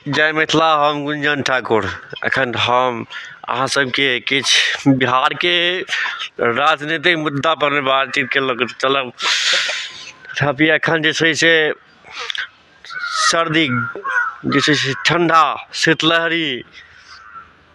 जय मिथिला हम गुंजन ठाकुर एखन हम अहाँ सबके किछु बिहारके राजनीतिक मुद्दा पर बातचीत के लऽ कऽ चलब अभी एखन जे छै से सर्दी जे छै से ठण्डा शीतलहरी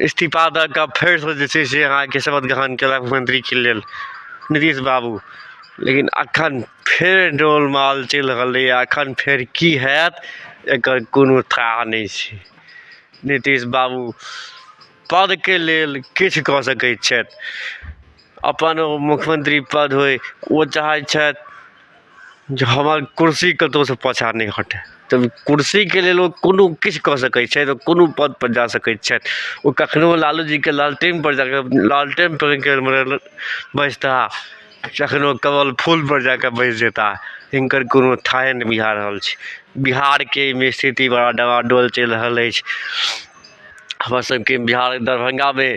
इस्तीफा दऽ कऽ फेरसँ जे छै से अहाँके शपथ ग्रहण कयलक मुख्यमंत्रीके लेल नीतीश बाबू लेकिन एखन फेर डोल माल चलि रहलैए एखन फेर की हैत एकर कोनो थाह नहि छै नीतीश बाबू पदके लेल किछु कऽ सकै छथि अपन ओ मुख्यमंत्री पद होय ओ चाहै छथि जे हमर कुर्सी कतहुसँ पाछाँ नहि हटय तऽ कुर्सीके लेल ओ कोनो किछु कऽ सकय छथि ओ कोनो पदपर जा सकय छथि ओ कखनो लालू जीके लालटेनपर जाकऽ लालटेनपर बैसता कखनो कमल फूलपर जाकऽ बैस जेता हिनकर कोनो थाहे नहि बुझा रहल छै बिहारके अइमे स्थिति बड़ा डबाडोल चलि रहल अछि हमर सबके बिहार दरभंगामे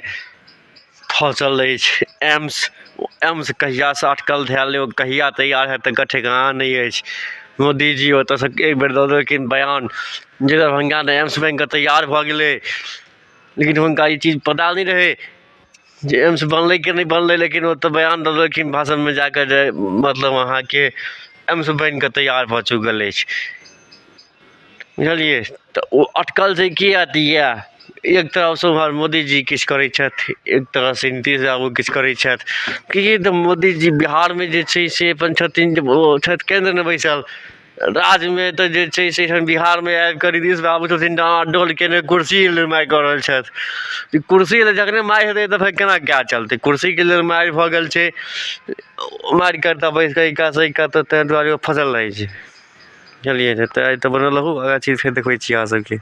फँसल अछि एम्स एम्स कहियासँ अटकल धएल अइ ओ कहिया तैयार हएत तकर ठेकान नहि अछि मोदीजी ओतऽसँ एक बेर दऽ देलखिन बयान जे दरभंगामे एम्स बनिकऽ तैयार भऽ गेलै लेकिन हुनका ई चीज पता नहि रहै जे एम्स बनलै कि नहि बनलै लेकिन ओ तऽ बयान दऽ देलखिन भाषणमे जाकऽ जे मतलब अहाँके एम्स बनिकऽ तैयार भऽ चुकल अछि बुझलियै तऽ ओ अटकल छै की अथी यए एक तरफसँ उमहर मोदीजी किछु करै छथि एक तरहसँ नीतीश बाबू किछु करै छथि कि तऽ मोदीजी बिहारमे जे छै से अपन छथिन जे ओ छथि केन्द्रमे बैसल राज्यमे तऽ जे छै से एखन बिहारमे आबि कऽ नीतीश बाबू छथिन डोल कयने कुर्सी लेल मारि कऽ रहल छथि ई कुर्सी लेल जखने मारि हेतै तऽ फेर केना काज चलतै कुर्सीके लेल मारि भऽ गेल छै मारि कऽ तऽ बैस कऽ एहि कातसँ ओहि कात ताहि दुआरे ओ फसल रहै छै बुझलियै ने तऽ आइ तऽ बनल रहू आगा चीज फेर देखबै छी अहाँ सबके